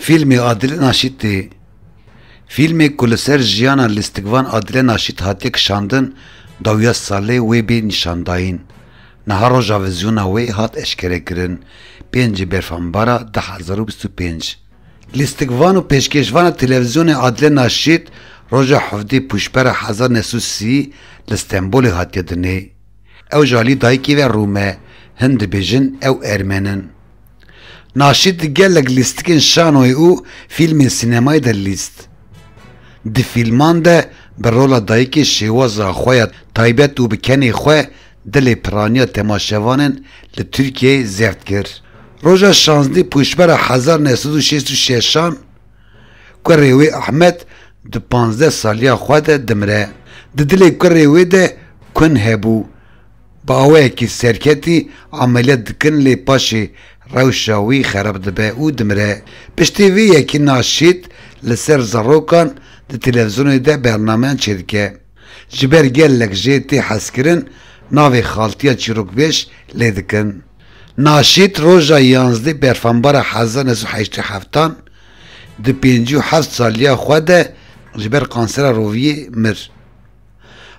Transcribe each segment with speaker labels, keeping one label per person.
Speaker 1: Fîlmê Adile Naşîtê Fîlmê ku li ser jiyana lîstikvan Adile Naşît hatiye kişandin dawiya salê wê bê nîşandayîn. Niha roja vîzyona wê hat eşkerekirin pêncî berfambara du hezar û bîst û pênc. Lîstikvan û pêşkêşvana televîzyonê Adile Naşît roja hevdî pûşbera hezar neh sed û sî li Stenbolê hatiye dinê. Ew ji alî dayikê ve Rûm e, hin dibêjin ew ermen in. Naşîd di gelek lîstikên şanoyê û fîlmên sînemayê de lîst. Di fîlman de bi rola dayikê şêwaza xwe ya taybet û bi kenê xwe dilê piraniya temaşevanên li Tirkiyeyê zêrt kir. Roja şazdî pûşbera hezar neh sed û şêst û şeşan kurê wê Ahmet di panzdeh saliya xwe de dimire. Di dilê kurê wê de kun hebû. Bi awayekî serketî emeliyat dikin lê paşê rewşa wî xerab dibe û dimire. Piştî vê yekî Naşîd li ser zarokan di televîzyonê de bernameyan çêdike. Ji ber gelek jê tê hezkirin navê xaltiya çîrokbêj lê dikin. Naşîd roja yanzdê berfambara hezar neh sed û heştê heftan di pêncî û heft saliya xwe de ji ber kansera roviyê mir.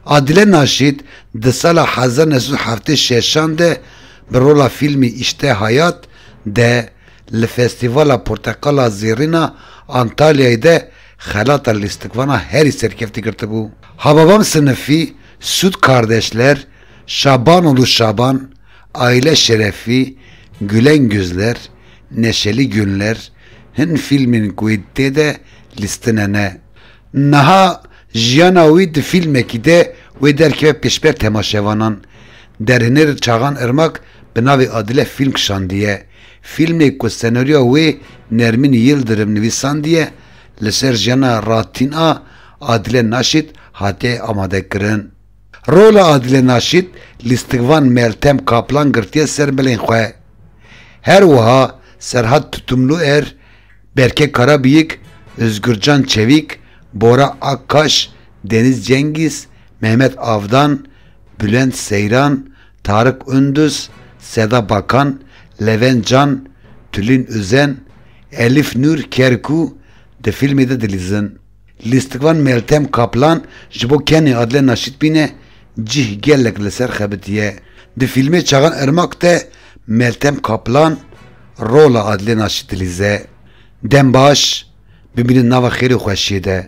Speaker 1: Adile Naşît di sala hezar û neh sed û heftê û şeşan de bi rola fîlmî Îşte Hayat de li Festîvala Porteqala Zêrîn a Antalyayê de xelata lîstikvana herî serkeftî girtibû. Hababam Sinifî, Sud Kardeşler, Şabanoğlu Şaban, Aile Şerefi, Gülen Gözler, Neşeli Günler hin fîlmên ku wê tê de lîstinene. Niha jiyana wî di fîlmekî de wê derkeve pêşber temaşevanan. Derhênêr Çaxan Irmak bi navê Adile fîlm kişandiye. Fîlmê ku senaryoya wê Nermin Yildirim nivîsandiye li ser jiyana ratîn a Adile Naşît hatiye amadekirin. Rola Adile Naşît lîstikvan Meltem Kaplan girtiye ser milên xwe. Her wiha Serhat Tutumluer, Berke Karabiyik, Ozgurcan Çevîk, Bora Akkaş, Deniz Cengîz, Mehmet Avdan, Bulent Seyran, Tarık Unduz, Seda Bakan, Levent Can, Tulin Uzen, Elif Nur Kerkû di fîlmê de dilîzin. Lîstikvan Meltem Kaplan ji bo Kenê Adile Naşîtbîne cih gelek li ser xebitiye. Di fîlmê Çaxan Irmak de Meltem Kaplan rola Adile Naşît dilîze. Dem baş, bimînin nava xêr û xweşiyê de.